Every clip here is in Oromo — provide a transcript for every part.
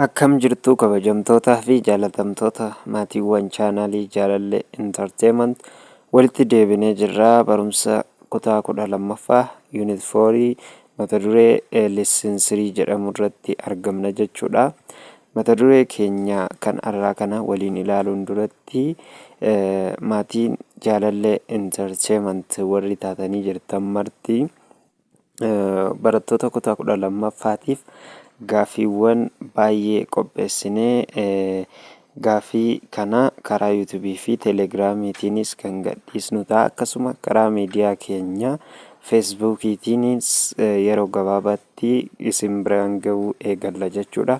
Akkam jirtuu kabajamtootaa fi jaalatamtoota maatiiwwan chaanaalii jaalallee intarteemant walitti deebinee jirraa barumsa kutaa kudha lammaffaa yuunit foorii mata duree leessinsirii jedhamu irratti argamna jechuudha. Mata duree keenya kan arraa kana waliin ilaaluun duratti maatiin jaalallee intarteemant warri taatanii jirtan marti Barattoota kutaa kudha lammaffaatiif gaaffiiwwan baay'ee qopheessinee gaaffii kana karaa yuutuubii fi teeleegiraamiitiinis kan gadhiisnu ta'a. Akkasuma karaa miidiyaa keenya feesbuukiitiinis yeroo gabaabaatti isin biraan ga'uu eegalla jechuudha.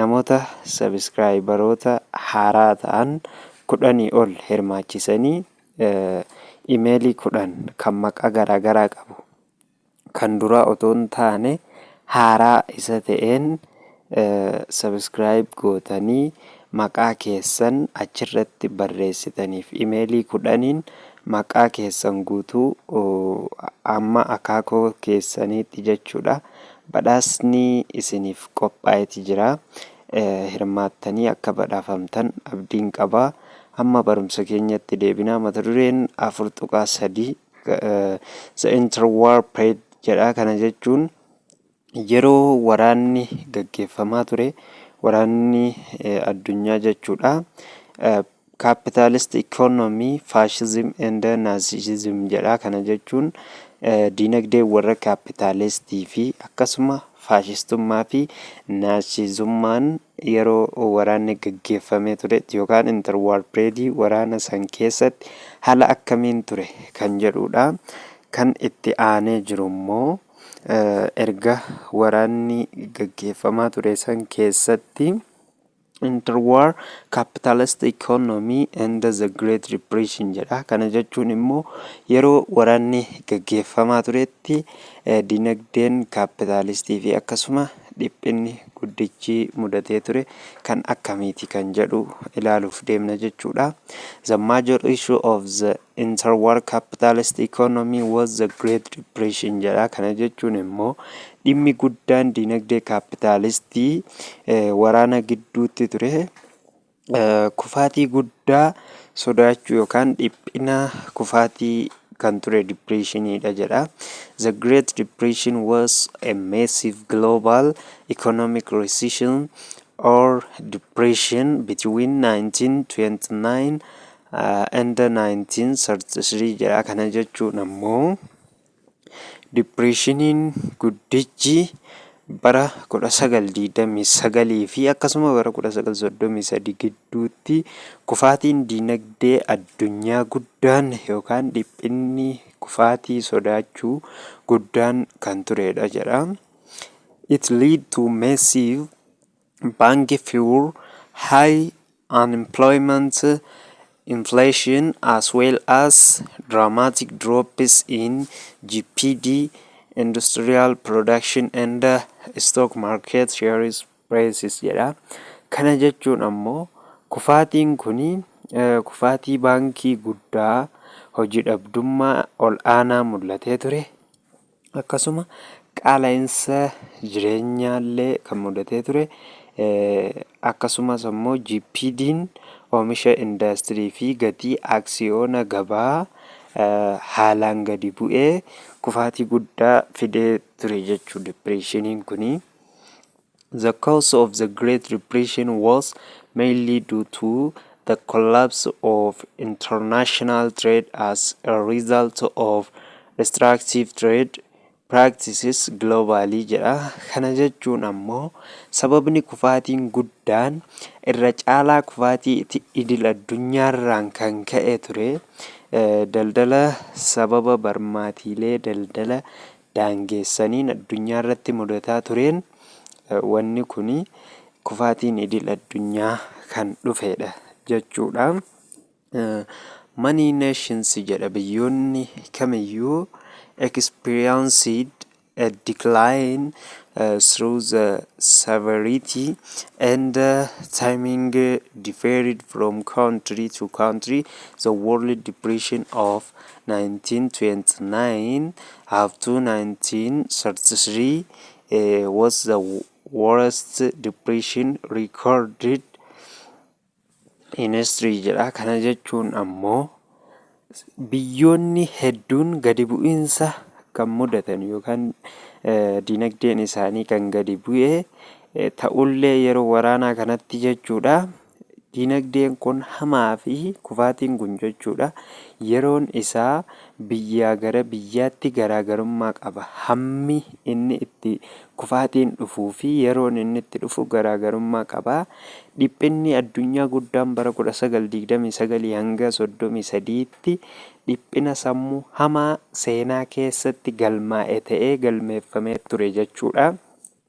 Namoota Sabiskiraayibaroota haaraa ta'an kudhanii ol hirmaachisanii Imeelii kudhan kan maqaa garaagaraa qabu kan duraa otoo hin taane haaraa isa ta'een Sabiskiraayib gootanii maqaa keessan achirratti barreessitaniif Imeelii kudhaniin maqaa keessan guutuu amma akaakoo keessaniitti jechuudha Badhaasni isiniif qophaa'eti jira. Hirmaattanii akka badhaafamtan abdiin qaba. Amma barumsa keenyatti deebinaa mata dureen 4.3 The Interwar Period jedha. Kana jechuun yeroo waraanni gaggeeffamaa ture waraanni addunyaa jechuudha. Capitalist economy, fascism and Nazism jedha. Kana jechuun diinagdeen warra kaapitaalistii fi akkasuma faashistummaa fi naasizummaan yeroo waraanni gaggeeffamee turetti yookaan interwaar pireedii waraana san keessatti haala akkamiin ture kan jedhudha. Kan itti aanee jiru immoo erga waraanni gaggeeffamaa ture san keessatti Interwar Capitalist Economy and the Great Depression jedha. Kana jechuun immoo yeroo waraanni gaggeeffamaa turetti eh, dinagdeen kaapitaalistii fi akkasuma dhiphinni guddichi mudatee ture kan akkamiiti kan jedhu ilaaluuf deemna jechuudha. The major issue of the Interwar capitalist economy was the Great Depression jedha. Kana jechuun immoo dhimmi guddaan dinagdee kaapitaalistii waraana gidduutti ture kufaatii guddaa sodaachuu yookaan dhiphina kufaatii kan ture dipireeshiniidha jedha. The Great Depression was a massive global economic recession or depression between 1929 and 1933 jedha. Kana jechuun ammoo dipireeshiniin guddichi bara 1929 fi akkasuma bara 1933 gidduutti kufaatiin dinagdee addunyaa guddaan yookaan dhiphinni kufaatii sodaachuu guddaan kan turedha jedha. It lead to massive Banki Fiwur high unemployment, inflation as well as dramatic drops in GPD, industrial production and stock market shares prices jedha. Kana jechuun ammoo kufaatiin kun kufaatii baankii guddaa hojii dhabdummaa ol aanaa mul'atee ture. Akkasuma qaala'insa jireenyaallee kan mudatee ture. Akkasumas ammoo GPDn oomisha indaastirii fi gatii aksiyoona gabaa haalaan gadi bu'ee kufaatii guddaa fidee ture jechuu dipireeshiniin kuni. The cause of the Great Depression was mainly due to the collapse of international trade as a result of restrictive trade practices globally jedha. Kana jechuun ammoo sababni kufaatiin guddaan irra caalaa kufaatii iti- idil addunyaarraan kan ka'e ture eh, daldala sababa barmaatiilee daldala daangeessaniin addunyaa irratti mudataa tureen wanni kuni kufaatiin idil addunyaa kan dhufeedha jechuudha. Many nations jedha biyyoonni kamiyyuu experienced a decline uh, through the severity and uh, timing uh, differed from country to country the world depression of 1929 up to 1933 was the worst depression recorded in history jedha. Kana jechuun ammoo biyyoonni hedduun gadi bu'iinsa kan mudatan yookaan dinagdeen isaanii kan gadi bu'e ta'ullee yeroo waraanaa kanatti jechuudha. Dinagdeen kun hamaa fi kufaatiin kun jechuudha yeroon isaa biyyaa gara biyyaatti garaagarummaa qaba. Hammi inni itti kufaatiin dhufuu fi yeroon inni itti dhufu garaagarummaa qaba. Dhiphinni addunyaa guddaan bara 1929 hanga 33tti dhiphina sammuu hamaa seenaa keessatti galmaa'e ta'ee galmeeffamee ture jechuudha.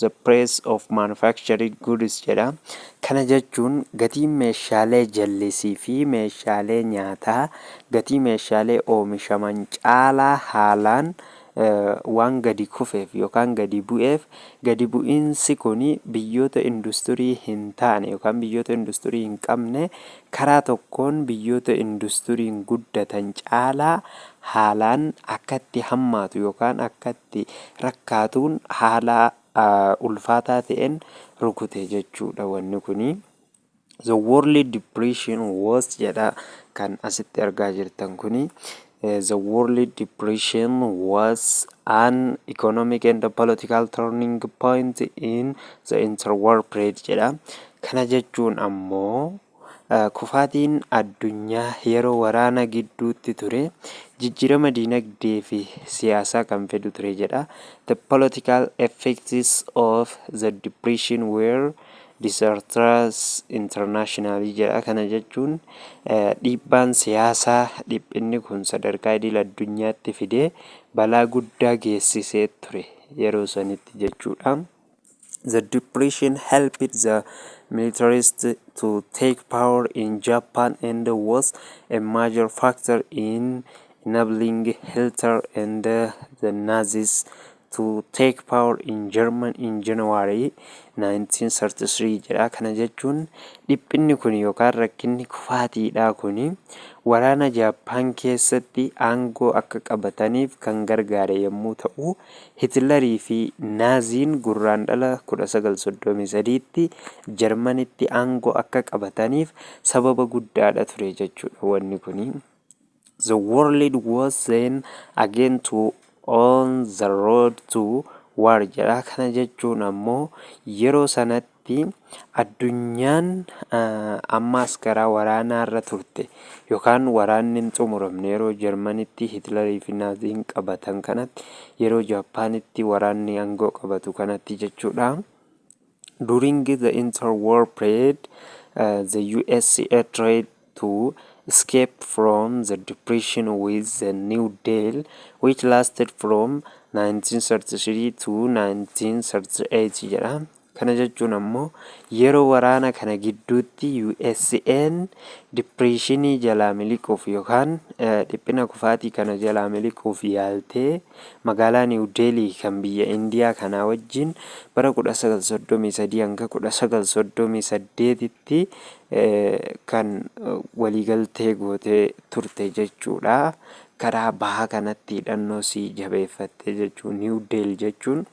the price of manufactured goods jedha. Kana jechuun gatiin meeshaalee jallisii fi meeshaalee nyaataa gatii meeshaalee oomishaman caalaa haalaan waan gadi kufeef yookaan gadi bu'eef gadi bu'iinsi kun biyyoota industirii hin taane yookaan biyyoota industirii hin qabne karaa tokkoon biyyoota industiriin guddatan caalaa haalaan akkatti hammaatu yookaan akka itti rakkaatuun haala ulfaataa ta'een rukute jechuudha wanni kuni. The World Depression was jedha kan asitti argaa jirtan kuni. Eh, The World Depression was an economic and political turning point in the interwar period jedha. Kana jechuun ammoo Kufaatiin addunyaa yeroo waraana gidduutti ture jijjiirama diinagdee fi siyaasaa kan fidu ture jedha. The political effects of the depression were disastrous internationally jedha. Kana jechuun dhiibbaan siyaasaa dhiphinni kun sadarkaa idil addunyaatti fide balaa guddaa geessisee ture yeroo sanitti jechuudha. The depression helped the militarists to take power in Japan and was a major factor in enabling Hitler and the Nazis to take power in German in January 1933 jedha. Kana jechuun dhiphinni kun yookaan rakkinni kufaatiidhaa kun waraana Jaappaan keessatti aangoo akka qabataniif kan gargaare yommuu ta'u, Hitlarii fi Naaziin Gurraandhala 19, 33tti Jarmanitti aangoo akka qabataniif sababa guddaadha ture jechuudha wanni kuni. The world was then again to on the road to war jedha. Kana jechuun ammoo yeroo sanatti fi addunyaan ammaas garaa waraanaa irra turte yookaan waraanni hin xumuramne yeroo Jarmanitti Hitlarii fi Naaziin qabatan kanatti yeroo Jaappaanitti waraanni aangoo qabatu kanatti jechuudha. During the interwar period, uh, the USA tried to escape from the depression with the New Deal, which lasted from 1933 to 1938 jedha. Kana jechuun ammoo yeroo waraana kana gidduutti USA'n dippireeshinii jalaa miliquuf yookaan dhiphina kufaatii kana jalaa miliquuf yaaltee magaalaa Niiw Deelii kan biyya Indiyaa kanaa wajjin bara 1933-1938tti kan waliigaltee gootee turte jechuudha. Karaa bahaa kanatti hidhannoo sii jabeeffatte jechuu Niiw Deel jechuun.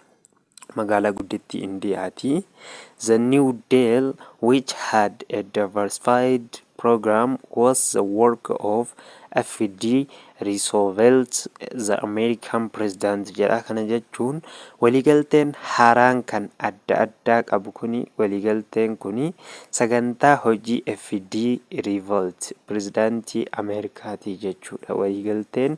magaalaa guddittii Indiyaati. The New Deal, which had a diversified program, was the work of F.D. Roosevelt, the American president jedha. Kana jechuun waliigalteen haaraan kan adda addaa qabu kuni waliigalteen kuni sagantaa hojii F.D. Roosevelt, pirezidaantii Ameerikaati jechuudha. Waliigalteen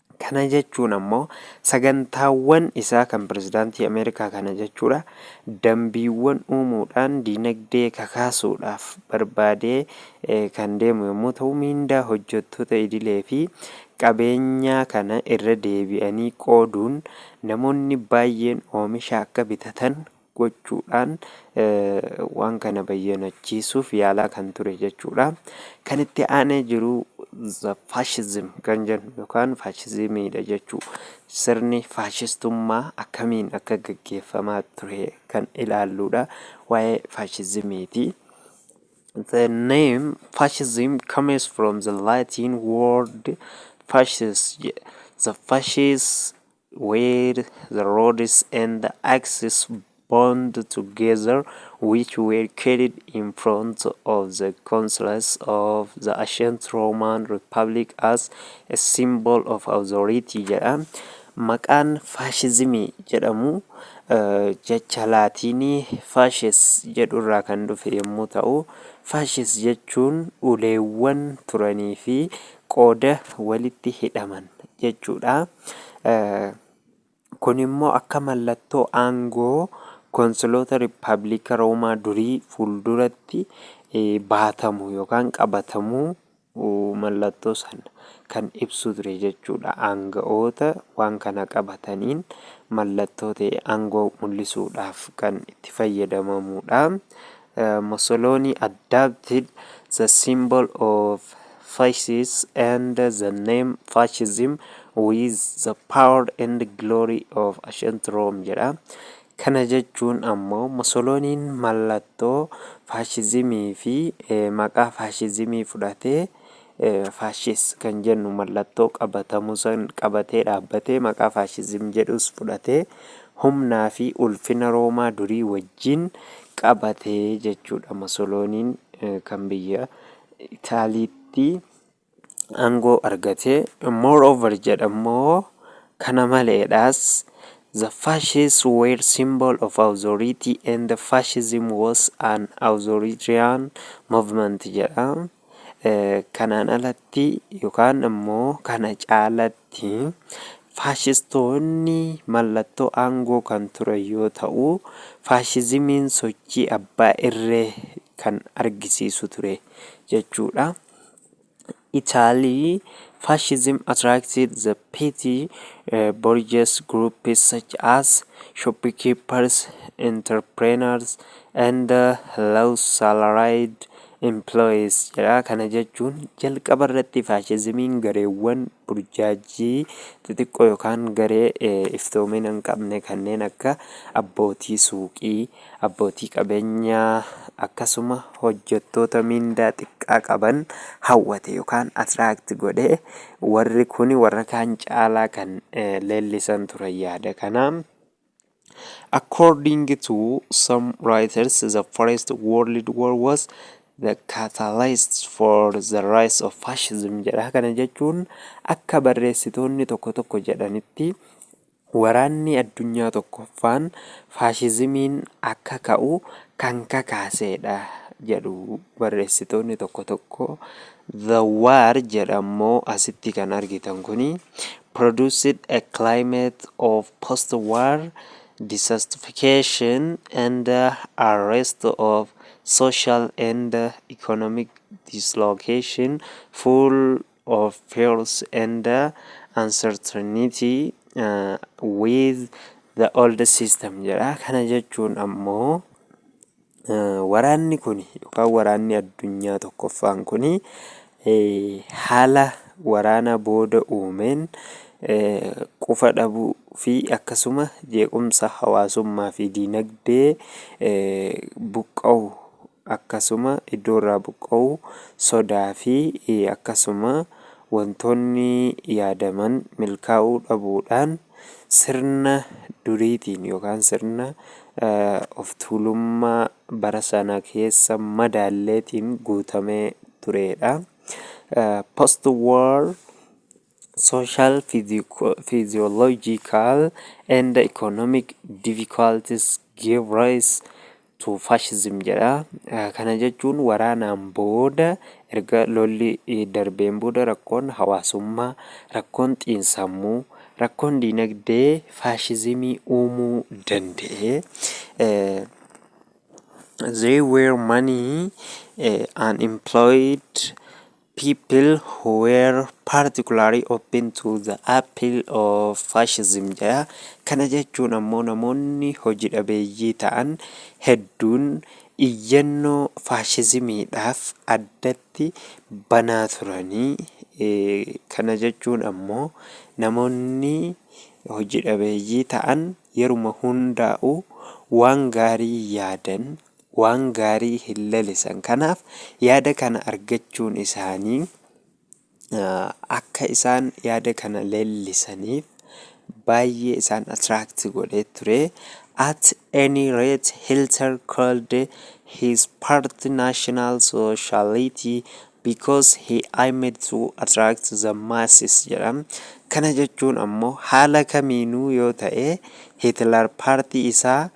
Kana jechuun ammoo sagantaawwan isaa kan pirezidaantii Ameerikaa kana jechuudha dambiiwwan uumuudhaan diinagdee kakaasuudhaaf barbaadee kan deemu yommuu ta'u miindaa hojjettoota idilee fi qabeenyaa kana irra deebi'anii qooduun namoonni baay'een oomisha akka bitatan gochuudhaan waan kana bayyanachiisuuf yaalaa kan ture jechuudha. Kan itti aanee jiru faashizim kan jennu yookaan faashizimiidha jechuu sirni faashistummaa akkamiin akka gaggeeffamaa ture kan ilaalluudha waa'ee faashizimiiti. The name fascism comes from the Latin word fascis. The fascist where the roads and the axes bound together which were carried in front of the consulas of the ancient Roman Republic as a symbol of authority jedha. Maqaan faashizimii jedhamu jecha laatiinii faashes jedhu irraa kan dhufe yommuu ta'u, faashes jechuun uleewwan turanii fi qooda walitti hidhaman jechuudha. Kun immoo akka mallattoo aangoo Konsiloota Rippaabiliika Roomaa durii fuulduratti baatamu yookaan qabatamu mallattoo sana kan ibsu ture jechuudha. Aanga'oota waan kana qabataniin mallattoo ta'e aangoo mul'isuudhaaf kan itti fayyadamamudha. Mussoloni adopted the symbol of Fascists and the name Fascism with the power and glory of ancient Rome jedha. Kana jechuun ammoo Mussoloniin mallattoo faashizimii fi maqaa faashizimii fudhatee Fascist kan jennu mallattoo qabatamu san qabatee dhaabbatee maqaa fascism jedhus fudhatee humnaa fi ulfina Roomaa durii wajjin qabate jechuudha. Musolooniin kan biyya Itaaliitti aangoo argate. Moreover jedhammoo kana maleedhaas The fascists were symbol of authority and the fascism was an authoritarian movement jedha. Kanaan alatti yookaan ammoo kana caalatti faashistoonni mallattoo aangoo kan turan yoo ta'u, faashizimiin sochii abbaa irree kan argisiisu ture jechuudha. Italy, fascism attracted the petty eh, bourgeois groups such as shopkeepers, entrepreneurs, and eh, low salaried employees jedha. Kana jechuun jalqaba irratti faashizimiin gareewwan burjaajii xixiqqoo yookaan garee iftoomina hin qabne kanneen akka abbootii suuqii, abbootii qabeenyaa akkasuma hojjettoota miindaa xiqqaa qaban hawwate yookaan atiraakti godhe warri kun warra kaan caalaa kan leellisan turan yaada kana. According to some writers, the First World War was the catalyst for the rise of fascism jedha. Kana jechuun akka barreessitoonni tokko tokko jedhanitti waraanni addunyaa tokkoffaan faashizimiin akka ka'u kan kakaasedha jedhu barreessitoonni tokko tokko The War jedha immoo asitti kan argitan kuni produced a climate of post-war dissatisfaction and arrest of social and economic dislocation full of fears and uncertainty uh, with the old system jedha kana jechuun ammoo Waraanni kun yookaan waraanni addunyaa tokkoffaan kun haala waraana booda uumeen qufa dhabuu fi akkasuma jeequmsa hawaasummaa fi diinagdee buqqa'u akkasuma iddoo irraa buqqa'u sodaa fi akkasuma wantoonni yaadaman milkaa'uu dhabuudhaan Sirna duriitiin yookaan sirna oftuulummaa bara sana keessa madaalleetiin guutamee tureedha. Post war social physiological and economic difficulties gave rise to fascism jedha. Kana jechuun waraanaan booda erga lolli darbeen booda rakkoon hawaasummaa, rakkoon xiinsammuu, rakkoon diinagdee faashizimii uumuu danda'e. They were many unemployed People who were particularly open to the appeal of fascism jedha. Kana jechuun ammoo namoonni hoji dhabeeyyii ta'an hedduun iyyannoo faashizimiidhaaf addatti banaa turanii. Kana jechuun ammoo namoonni hoji dhabeeyyii ta'an yeruma hundaa'u waan gaarii yaadan waan gaarii hin lalisan. Kanaaf yaada kana argachuun isaanii akka isaan yaada kana leellisaniif baay'ee isaan attract godhee ture. At any rate, Hilter called his party National Sociality because he aimed to attract the masses jedha. Kana jechuun ammoo haala kamiinuu yoo ta'e Hitler paartii isaa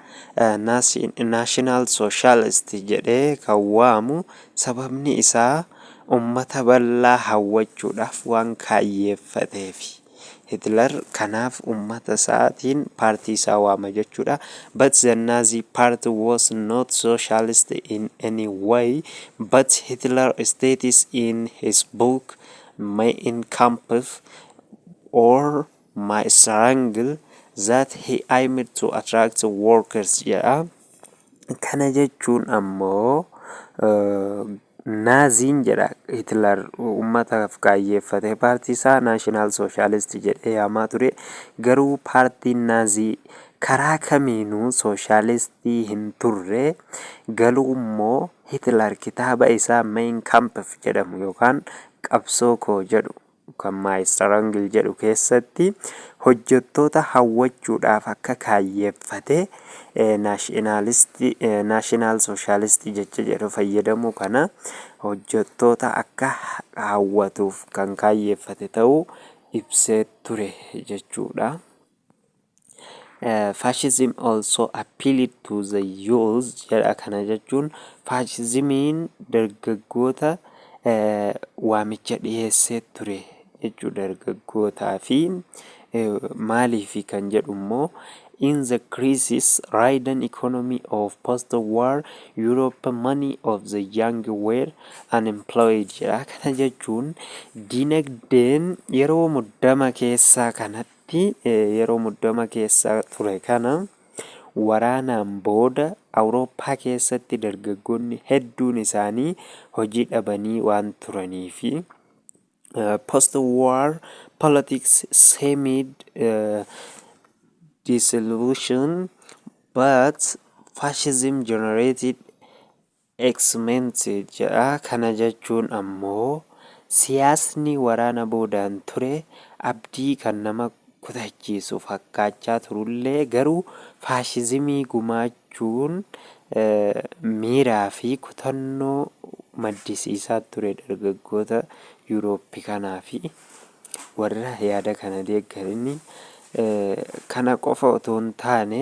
National Socialist jedhee kan waamu sababni isaa ummata bal'aa hawwachuudhaaf waan kaayyeeffateefi. Hitler kanaaf ummata isaatiin paartii isaa waama jechuudha. But the Nazi party was not socialist in any way, but Hitler states in his book Mein Kampf or My Struggle that he aimed to attract workers jedha. Kana jechuun ammoo Naaziin jedha Hitler uummataaf kaayyeeffate. Paartii isaa Naashinaal Sooshaalisti jedhee yaamaa ture. Garuu paartiin Naazii karaa kamiinuu sooshaalistii hin turre. Galuummoo Hitler kitaaba isaa Mein Kampf jedhamu yookaan Qabsoo koo jedhu kan My Strangle jedhu keessatti hojjettoota hawwachuudhaaf akka kaayyeeffate naashinaalisti, national socialist jecha jedhu fayyadamuu kana hojjettoota akka hawwatuuf kan kaayyeeffate ta'uu ibsee ture jechuudha. Fascism also appealed to the youth jedha kana jechuun faashizimiin dargaggoota eh, waamicha dhiyeessee ture jechuu dargaggootaa fi eh, maaliifi kan jedhu immoo in the crisis ridden economy of post-war Europe many of the young were unemployed jedha kana jechuun dinagdeen yeroo muddama keessaa kanatti Tti yeroo muddama keessa ture kana waraanaan booda Awurooppaa keessatti dargaggoonni hedduun isaanii hojii dhabanii waan turanii fi Post-War Politics Seemed Disillusioned, But Fascism Generated X-Men's jedha. Kana jechuun ammoo siyaasni waraana boodaan ture abdii kan nama kutachiisu fakkaachaa turullee garuu faashizimii gumaachuun miiraa fi kutannoo maddisiisaa ture dargaggoota Yuurooppi kanaa fi warra yaada kana deeggaranii. Kana qofa otoo hin taane.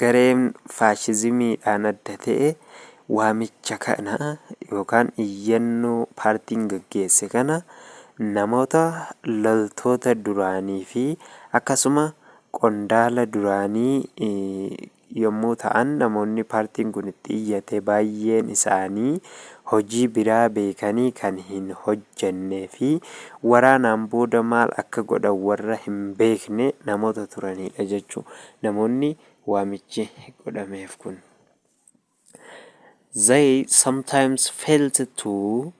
Gareen faashizimiidhaan adda ta'e waamicha kana yookaan iyyannoo paartiin gaggeesse kana namoota loltoota duraanii fi akkasuma qondaala duraanii yommuu ta'an namoonni paartiin kun itti iyyate baay'een isaanii hojii biraa beekanii kan hin hojjennee fi waraanaan booda maal akka godhan warra hin beekne namoota turaniidha jechu namoonni waamichi godhameef kun. They sometimes felt too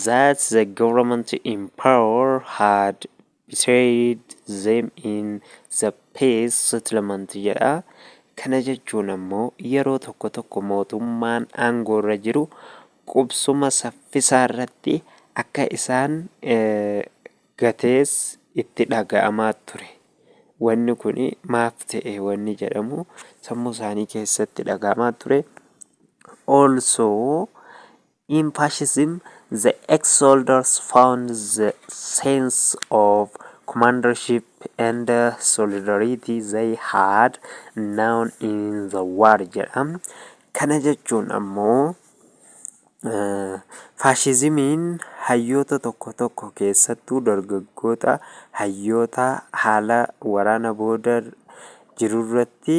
that the government in power had betrayed them in the peace settlement jedha. Kana jechuun ammoo yeroo tokko tokko mootummaan aangoorra jiru qubsuma saffisaarratti akka isaan gatees itti dhaga'amaa ture. Wanni kun maaf ta'e wanni jedhamu sammuu isaanii keessatti dhaga'amaa ture. Also In Fascism, the ex-soldiers found the sense of commandership and solidarity they had known in the war jedha. Kana jechuun ammoo faashizimiin hayyoota tokko tokko keessattuu dargaggoota hayyoota haala waraana booda jirurratti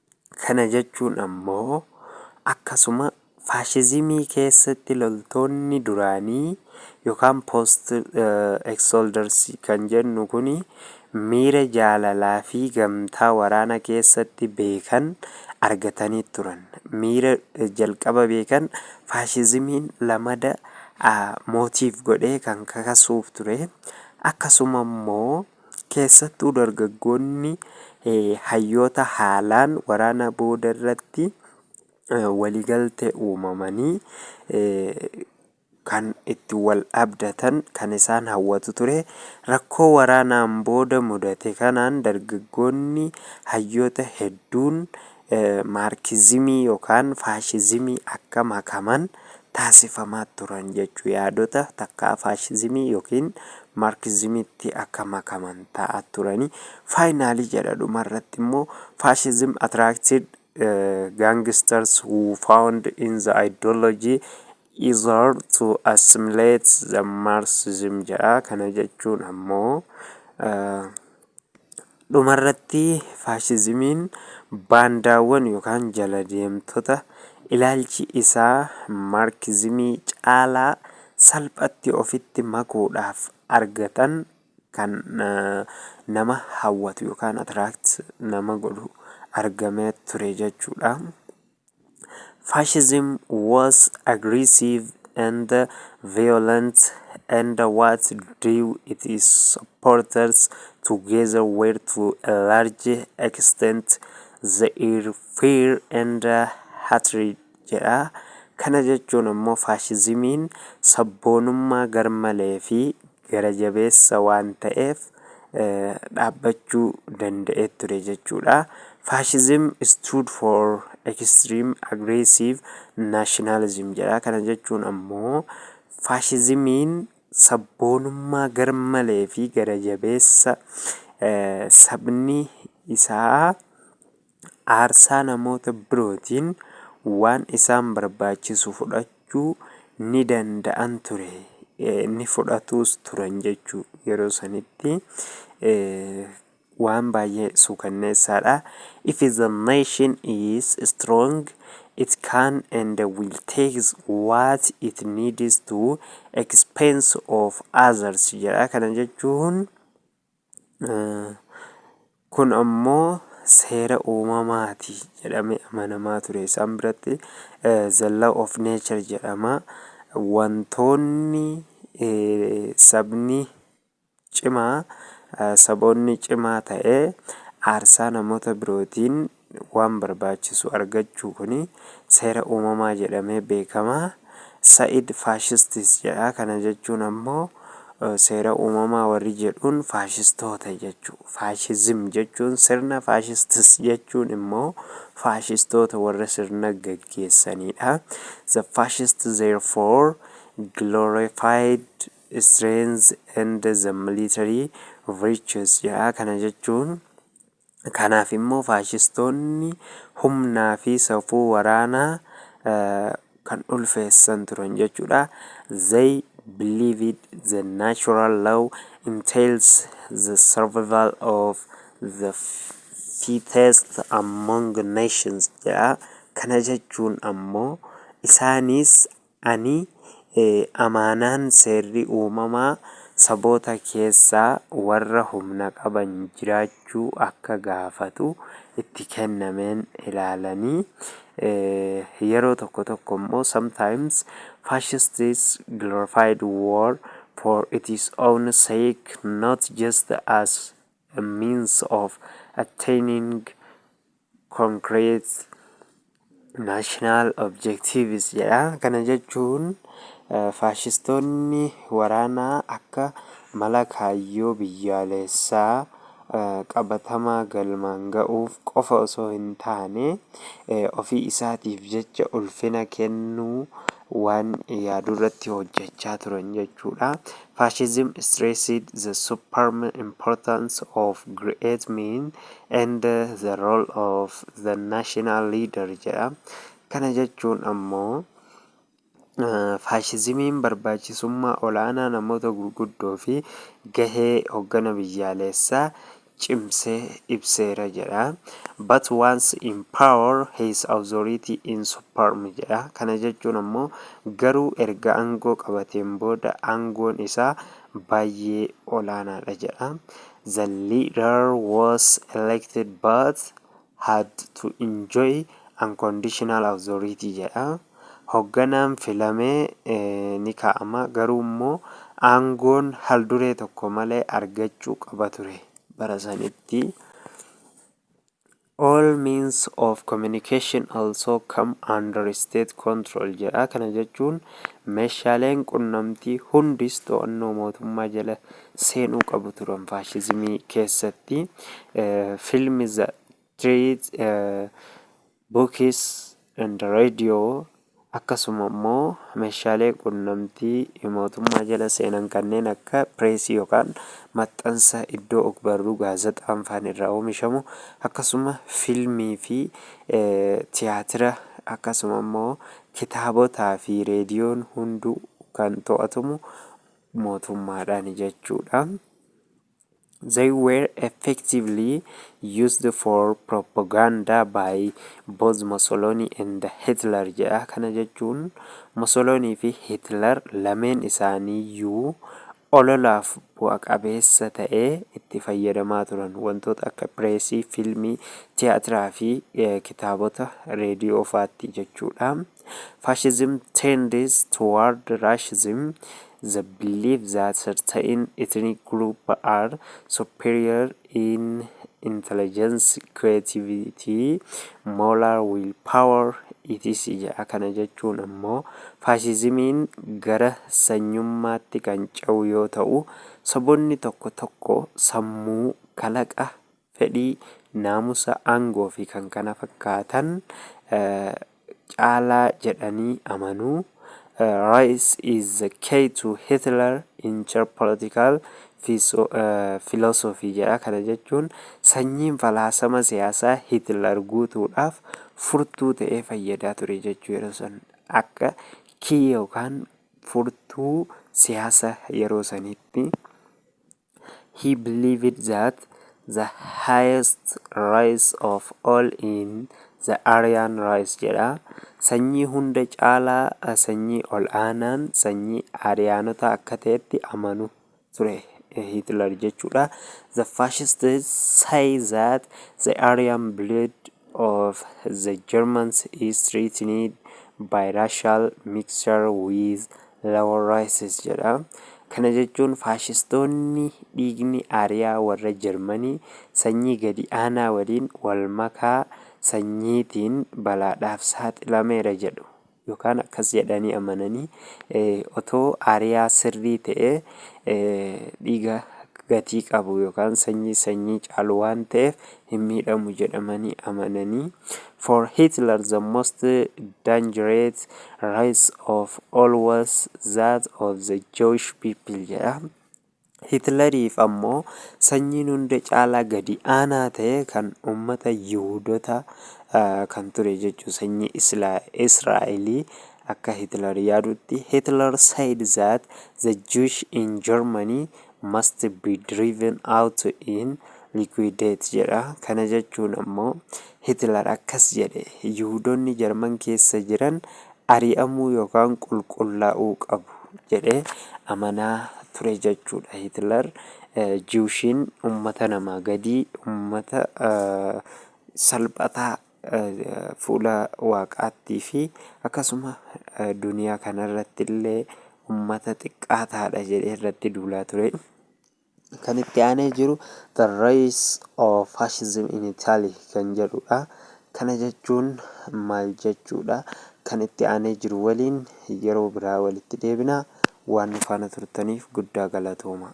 Kana jechuun ammoo akkasuma faashizimii keessatti loltoonni duraanii yookaan post ex soldiers kan jennu kun miira jaalalaa fi gamtaa waraana keessatti beekan argatanii turan. Miira jalqaba beekan faashizimiin lamada motive godhee kan kakasuuf ture. Akkasuma immoo Keessattuu dargaggoonni hayyoota haalaan waraana booda irratti waliigaltee uumamanii kan itti wal abdatan kan isaan hawwatu ture. Rakkoo waraanaan booda mudate kanaan dargaggoonni hayyoota hedduun Maarkizimii yookaan faashizimii akka makaman taasifamaa turan jechu yaadota takkaa faashizimii yookiin maarkizimitti akka makaman ta'a turani faayinaalii jedha dhuma irratti immoo faashizim attracted gangsters who found in the ideology is hard to assimilate the Marxism jedha. Kana jechuun ammoo dhumarratti faashizimiin baandaawwan yookaan jala deemtota ilaalchi isaa maarkizimii caalaa salphatti ofitti makuudhaaf argatan kan nama hawwatu yookaan atiraakti nama godhu argamee ture jechuudha. Fascism was aggressive and violent and what drew its supporters together were to a large extent their fear and hatred jedha. Kana jechuun immoo faashizimiin sabboonummaa garmalee fi gara jabeessa waan ta'eef dhaabbachuu danda'ee ture jechuudha. Fascism stood for extreme aggressive nationalism jedha. Kana jechuun ammoo faashizimiin sabboonummaa garmalee fi gara jabeessa sabni isaa aarsaa namoota birootiin waan isaan barbaachisu fudhachuu ni danda'an ture ni fudhatuus turan jechuu yeroo sanitti waan baay'ee suukanneessaadha if the nation is strong it can and will take what it needs to expense of others jedha kana jechuun Kun ammoo seera uumamaati jedhamee amanamaa ture. Isaan biratti the law of nature jedhama. Wantoonni sabni cimaa saboonni cimaa ta'ee aarsaa namoota birootiin waan barbaachisu argachuu kuni seera uumamaa jedhamee beekama. Sa'id fascists jedha. Kana jechuun ammoo seera uumamaa warri jedhuun faashistoota jechu. Fascism jechuun sirna fascists jechuun immoo faashistoota warra sirna gaggeessaniidha. The fascists therefore glorified strength and the military virtues jedha. Kana jechuun. Kanaaf immoo faashistoonni humnaa fi safuu waraanaa kan ulfeessan turan jechuudha. They believed the natural law entails the survival of the fittest among nations jedha. Kana jechuun ammoo isaanis Ani amaanaan seerri uumamaa saboota keessaa warra humna qaban jiraachuu akka gaafatu itti kennameen ilaalanii yeroo tokko tokko immoo sometimes fascists glorified war for its own sake not just as a means of attaining Concrete National Objectives jedha. Kana jechuun faashistoonni waraanaa akka mala kaayyoo biyyaalessaa qabatamaa galmaan ga'uuf qofa osoo hin taane ofii isaatiif jecha ulfina kennuu waan yaadu irratti hojjechaa turan jechuudha. Fascism stressed the supreme importance of great men and the role of the national leader jedha. Kana jechuun ammoo faashizimiin barbaachisummaa olaanaa namoota gurguddoo fi gahee hoggana biyyaalessaa cimsee ibseera jedha. But once in power his authority in superm jedha. Kana jechuun ammoo garuu erga aangoo qabateen booda aangoon isaa baay'ee olaanaadha jedha. The leader was elected but had to enjoy unconditional authority jedha. Hogganaan filame ni kaa'ama, garuu immoo aangoon halduree tokko malee argachuu qaba ture bara sanitti. All means of communication also come under state control jedha. Kana jechuun meeshaaleen qunnamtii hundis to'annoo mootummaa jala seenuu qabu turan faashizimii keessatti. Film The Treat Books and Radio akkasuma immoo meeshaalee qunnamtii mootummaa jala seenan kanneen akka pireesii yookaan maxxansa iddoo ogbarruu gaazaxaan faan irraa oomishamu akkasuma filmii fi tiyaatira akkasuma immoo kitaabotaa fi reediyoon hunduu kan to'atamu mootummaadhaani jechuu dha. They were effectively used for propaganda by both Mussolini and Hitler jedha. Kana jechuun Mussolini fi Hitler lameen isaanii iyyuu ololaaf bu'a qabeessa ta'e itti fayyadamaa turan. Wantoota akka pireesii, fiilmii, tiyaatiraa fi kitaabota, reediyoo faatti jechuu dha. Fascism tends toward racism, the belief that certain ethnic groups are superior in intelligence, creativity, moral will power, etc. jedha. Kana jechuun ammoo faashizimiin gara sanyummaatti kan ce'u yoo ta'u, saboonni tokko tokko sammuu, kalaqa, fedhii, naamusa, aangoo fi kan kana fakkaatan caalaa jedhanii amanu. Rice is the key to Hitler in Czech political philosophy jedha. Kana jechuun sanyiin falaasama siyaasaa Hitler guutuudhaaf furtuu ta'ee fayyadaa ture jechuu yeroo san akka kii yookaan furtuu siyaasa yeroo saniitti He believed that the highest rice of all in the Aryan rice jedha. Sanyii hunda caalaa sanyii ol aanaan sanyii Ariyaanotaa akka ta'etti amanu ture Hitler jechuudha. The fascists say that the Aryan blood of the Germans is threatened by racial mixture with Lower Rises jedha. Kana jechuun faashistoonni dhiigni Aariyaa warra Jarmanii sanyii gadi aanaa waliin wal makaa sanyiitiin balaadhaaf saaxilameera jedhu. Yookaan akkas jedhanii amananii otoo Aariyaa sirrii ta'ee dhiiga gatii qabu yookaan sanyii sanyii caalu waan ta'eef hin miidhamu jedhamani amanani For Hitler the most dangerous race of all was that of the Jewish people jedha. Hitleriif ammoo sanyiin hunda caalaa gadi aanaa ta'e kan ummata Yihuudota kan ture jechuu sanyii Israa'elii akka Hitler yaadutti Hitler said that the Jewish in Germany must be driven out in liquidate jedha. Kana jechuun ammoo Hitler akkas jedhe, Yihuudonni Jarman keessa jiran ari'amuu yookaan qulqullaa'uu qabu jedhee amanaa ture jechuudha. Hitler Jiwushiin ummata namaa gadii, ummata salphataa fuula waaqaattii fi akkasuma duniyaa kanarratti illee ummata xiqqaa taadha jedhee irratti duulaa ture. Kan itti aanee jiru The Rise of Fascism in Italy kan jedhudha. Kana jechuun maal jechuudha? Kan itti aanee jiru waliin yeroo biraa walitti deebina. Waan nu faana turtaniif guddaa galatooma.